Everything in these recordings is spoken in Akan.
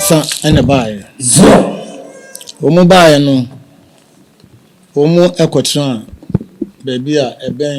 nsa na ɛbaeɛ. Wɔn baeɛ no, wɔkɔtenaa baabi a ɛbɛn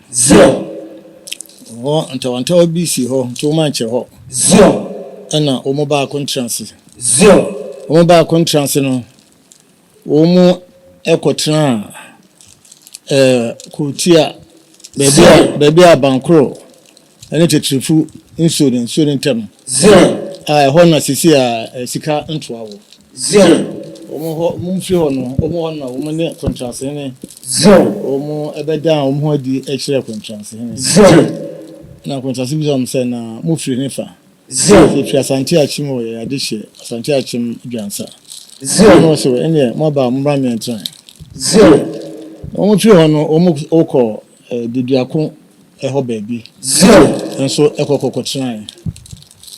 Zion. Hɔ ntawɔntawa bi sii hɔ, nti wɔankyerɛ hɔ. Zion. Ɛnna wɔn mu baako ntra ase. Zion. Wɔn mu baako ntra ase no, wɔn mu kɔtenaa ɛɛ kurotia baabi a baabi a abankoro Ɛne Tetrefo nsuo no nsuo no ntam. Zion. A ɛhɔ na sisi a sika ntoa wɔ. Zion. Wɔn hɔ wɔn firi hɔ no wɔn hɔ na wɔn ne kɔntransehene. Zion. Wɔn ɛbɛdan wɔn ho adi kyerɛ kɔntransehene. Zion. Na kɔntrase bisa wɔn sɛ na mo firi ne fa. Zion. Efiri Asante Akyem wɔ yɛ ade hyɛ Asante Akyem Dwansa. Zion. Wɔn sɛ wɔ ɛneɛ mo aba mo mra mɛntran. Zion. Wɔn firi hɔ no wɔn wokɔ Deduako. hɔ baabi nso kɔ kɔkɔtenae.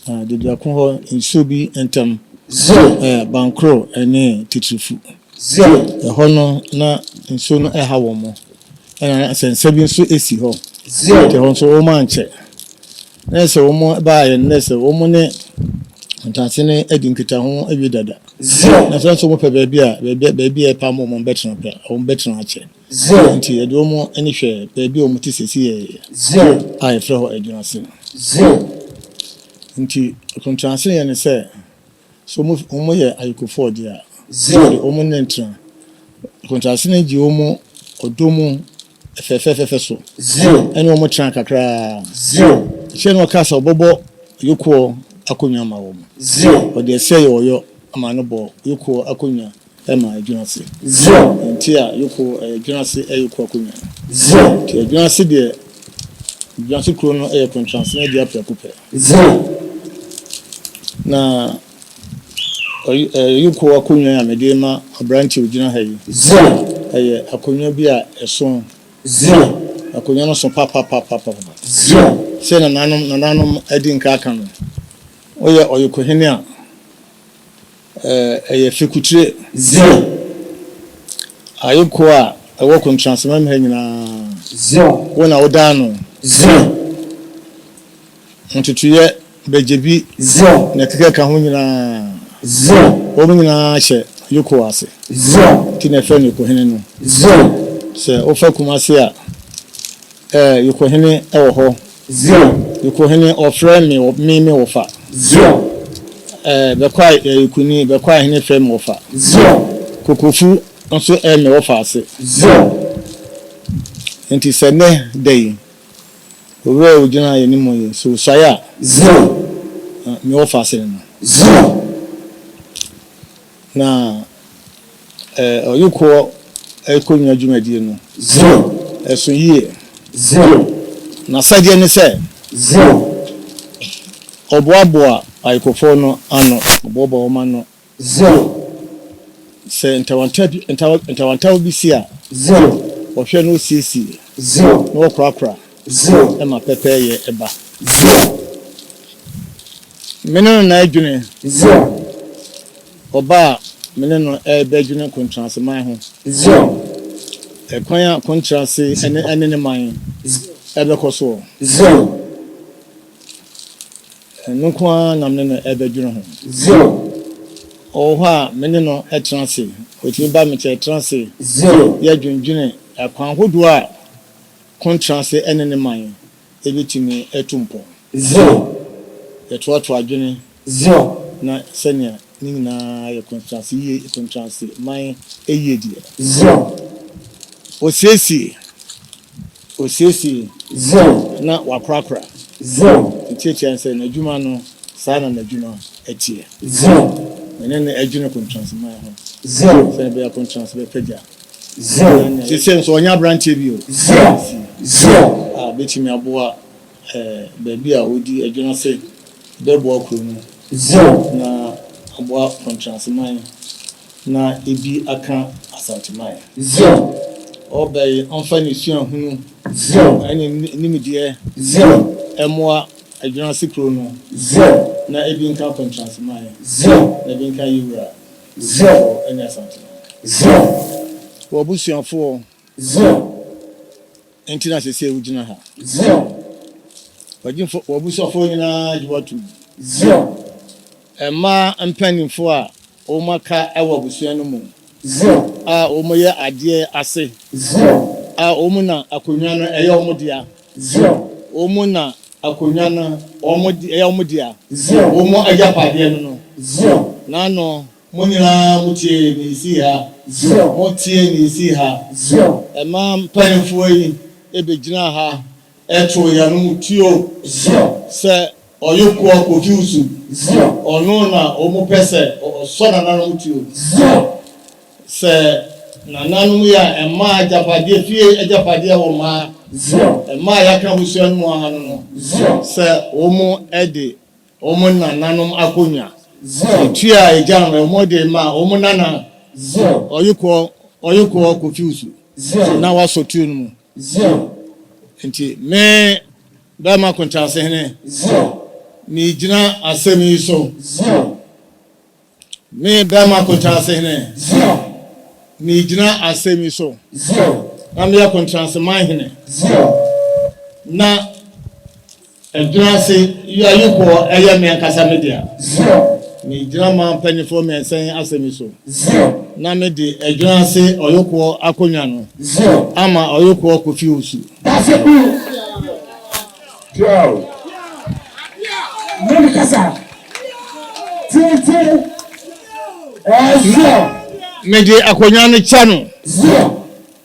Na Deduako hɔ nsuo bi ntam yɛ Bankoro ne Teterefu. Ɛhɔ no na nsuo no ha wɔn. Ɛna na nsɛnsɛm bi nso si hɔ. Nti ɛhɔ nso wɔankyɛ. Na ɛyɛ sɛ wɔbaeɛ no na ɛyɛ sɛ wɔn ne Ntase no adi nkitaho awie dada. Na sɛ nso wɔpɛ baabi a, baabi a ɛpam wɔn no wɔbɛtena pɛ a, wɔbɛtena akyɛ. Zero. Dɛn nti? Yɛde wɔn ani hwɛ baabi a wɔte seesei Zero. a yɛfrɛ hɔ Adwinase no. Zero. Enti akontransene yɛ ne sɛ, sɛ wɔn wɔyɛ ayekofoɔ deɛ a, Zero. yɛde wɔn ne ntena. Akontransene gye wɔn ɔdɔ mu fɛfɛɛfɛfɛ so Zero. ɛne wɔn tena kakra ara. Zero. Akyire no ɔkaa sɛ ɔbɛbɔ Yokoɔ akonnwa ama wɔn. Zero. Ɔde ɛsɛ yɛ ɔyɔ ma no bɔɔ Yokoɔ akonnwa. Ɛma ɛdwene ase. Zion. Ɛnte a yoko ɛyɛ dwene ase ɛyɛ ku akonwa. Zion. Nti ɛdwene ase deɛ dwene ase kuro no ɛyɛ kontrans na ɛdi aprɛko pɛ. Zion. Na ɔyi ɛyɛ yoko akonwa a mede ma abranteɛ ogyina ha yi. Zion. Ɛyɛ akonwa bi a ɛso. Zion. Akonwa no so papapapapapa. Zion. Sɛ nananom nananom adi nka aka no, woyɛ ɔyoko hene a. Ɛyɛ fekutire. Zion, aye koɔ a ɛwɔ kontransmɛm ha nyinaa. Zion, wo na wodaa no. Zion, ntotoeɛ bɛgyebi. Zion, na ɛkeka ka ho nyinaa. Zion, wɔn nyinaa hyɛ Yekowa ase. Zion, nti na ɛfrɛ no Yekohene no. Zion, sɛ wofa Kumasi a, ɛɛ Yekohene wɔ hɔ. Zion. Ekohene ɔfrɛ me wɔ me me wɔfa. Zion. Ɛɛ bɛkwae ɛɛ ekuni bɛkwae hene frɛ me wɔfa. Zion. Kokofu nso ɛɛ me wɔfa ase. Zion. Enti sɛ nnɛ da yi. Owura a ogyina yɛn anim yi sɛ osuae a. Zion. Me wɔfa ase no. Zion. Na ɔyukoɔ kɔnwua dwumadie no. Zion. Ɛso yie. Zion. N'asɛdeɛ ne sɛ. Zion. Ɔboaboa ayukofoɔ no ano. Ɔboaboa wɔn ano. Zion. Sɛ ntawantawa bi si a. Zion. Ɔhwɛ na ɔsiesie. Zion. Na ɔkorakora. Zion. Ɛma pɛpɛɛyɛ ba. Zion. Me ne no na adwene. Zion. Ɔba a me ne no ɛbɛdwene kontrase man ho. Zion. Ɛkwan a kontrase ɛne ɛne ne man ɛbɛkɔ soɔ. Zion. Ɛno nko ara na me ne no ɛbɛdwene ho. Zion. Ɔwɔ hɔ a me ne no ɛtena ase. Ɔtumi ba me nkyɛn ɛtena ase. Zion. Yɛdwendwene ɛkwan hodoɔ a. Kontrase ne ne man betumi atu mpɔn. Sɛ yɛtoatoa adwene na sɛnea ne nyinaa yɛ kontrase yiye, kontrase man yiedie. Osiesie, osiesie na wakorakora. Ne tiatia ne sɛ, N'adwuma no, saa na n'adwuma teɛ. Mene no adwene kontrase man ho sɛnea ɛbɛyɛ a kontrase bɛpagya Zero. Sese nso ɔnyɛ aberanteɛ bio. Zero. Zero. A bɛtumi aboa eh, baabi a ɔdi adwina se ɛbɛboa kuro no. Zero. Na aboa Kɔntranseman na ebi aka Asanteman. Zero. Ɔbɛye ɔmfa ne suahunu. Zero. Ɛne ne nimdeɛ. Zero. Ɛmoa adwina se kuro no. Zero. Na ebi nka Kɔntranseman. Zero. Na ebi nka Yewura. Zion, Zion, w'abusuafoɔ. Zion, enti na sɛsɛɛ wogyina ha. Zion, w'agyimfoɔ, w'abusuafoɔ nyinaa gye w'atum. Zion, mmaa mpaninfoɔ a wɔn aka wɔ abusua no mu. Zion, a wɔn yɛ adeɛ ase. Zion, a wɔn na akonnwa no yɛ wɔn dea. Zion. Wɔn na akonnwa no Wɔn de, ɛyɛ wɔn dea. Zion. Wɔn agyapadeɛ no no. Zion. N'ano. Mo nyinaa motie nea ɛsii ha. Zion. Motie nea ɛsii ha. Zion. Ɛma mpanimfoɔ yi bɛgyinaa ha too yɛn anom tuo. Zion. Sɛ. Ɔye koa Kofi Usu. Zero. Ɔno na ɔmo pɛ sɛ ɔsɔ nananom ti o. Zero. Sɛ nananom yɛ a, ɛmaa agyapadeɛ, fie agyapadeɛ wɔ mmaa. Zero. Mmaa a yɛaka abusua no mu ara no no. Zero. Sɛ ɔmo de ɔmo nananom akonnwa. Zero. Etua a agya no ɔmo de ma ɔmo nana. Zero. Ɔye koa Ɔye koa Kofi Usu. Zero. Na wasɔ tuo no mu. Zion. Enti me, barima akontaase hene. Zion. Meregyina asɛm yi so. Zion. Me, barima akontaase hene. Zion. Meregyina asɛm yi so. Zion. Na meyɛ akontraase man hene. Zion. Na. Ɛgyina ase, Yi ayupoɔ, ɛyɛ me ankasa me dea. Zion. Megyina man mpanimfoɔ mmiɛnsa yi asɛm yi so. Zion. Na mede ɛgyina ase ɔyokoɔ akonnwa no. Zion. Ama ɔyokoɔ Kofi Owusu. Dase bu. Tiao. Mami kasa. Titi. Ɛɛ Zion. Mede akonnwa no kyɛ no. Zion.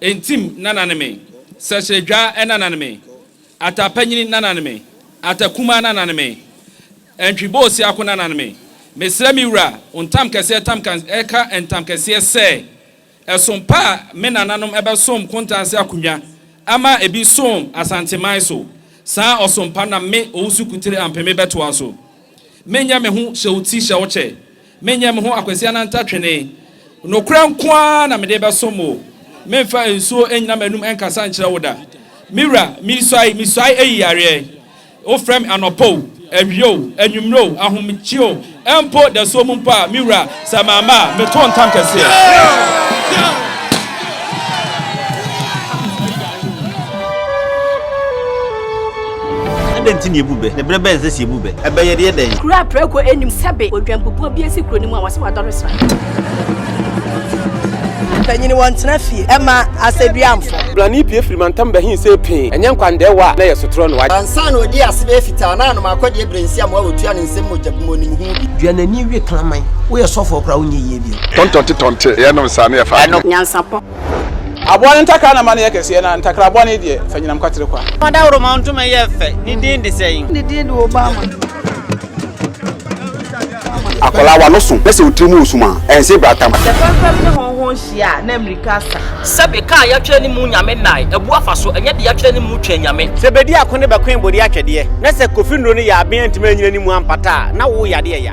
Ntim nana ne me, Sɛsrɛdwa nana ne me, Ata panyini nana ne me, Ata kumaa nana ne me, Antwi bɔ osiako nana ne me, Mesrɛ me wura wo ntam kɛseɛ tam ka ɛka ntam kɛseɛ sɛ ɛsom pa a me nananom ɛbɛsom Kontanse akonwa ama ɛbi som Asanteman so saa ɔsom pa na me Owusu Kutire Ampeme bɛtoa so Menyɛ me ho hyɛ wo ti hyɛ wo kyɛ Menyɛ me ho akwasia na nta twene. Nokorɛ nko ara na mede bɛsom wo. Memfa nsuo nnyina m'anum nkasa nkyerɛ wo da. Me wura, mesuae, mesuae ayi yareɛ. Wofrɛ me anɔpa o, awia o, anwummerɛ o, ahomegyeɛ o, mpo dasuo mu mpo a, me wura, sɛ mamma a, meto ntam kɛseɛ. Adɛn nti na yɛbu bɛ, na berɛ bɛn sɛ sɛ yɛbu bɛ a, ɛbɛyɛ deɛ dɛn? Kuro a prako nnim sɛbe odwanbubuo bi asi kuro no mu a wɔse wɔadɔre sra. Mpanyini wɔntena fie ɛma asɛduamfo. Brane pue firi mantam bɛhe sei pee, ɛnyɛ nkwandɛɛwa a na ɛyɛ sotorɔ no why? Ansa na ɔdii ase bɛyɛ fitaa na anoma akɔdeɛ berɛ nsi amoa wɔtua ne nsam mogya bu mu ɔnim ho bi. Dua n'ani we kraman. Woyɛ sɔfoɔ koraa wonyɛ yie bio. Tɔntɔnte tɔnte yɛnom saa ne yɛfa adwene. Nyansapɔ. Aboa no ntakra na ma no yɛ kɛseɛ, na ntakra bɔne deɛ, fa nyinam kwatere kwa. Fa dawuroma ntoma yɛ fɛ, ne din de sɛn? Ne din de Obama. Akwadaa w'ano so na sɛ wo tiri mu resum a, ɛnse brata ma. Sɛ fɛmfɛm ne hɔnhɔn hyia a, na mmirika asa. Sɛbe kaa a yɛatwerɛ ne mu Nyame nnae, abu afa so, ɛnyɛ de yɛatwerɛ ne mu Twɛn Nyame. Sɛ bedi ako ne bɛkoe bodi atwɛdeɛ, na sɛ kofi nnuro no yɛ aben antumi annyina ne mu ampata a, na wo yadeɛ ya.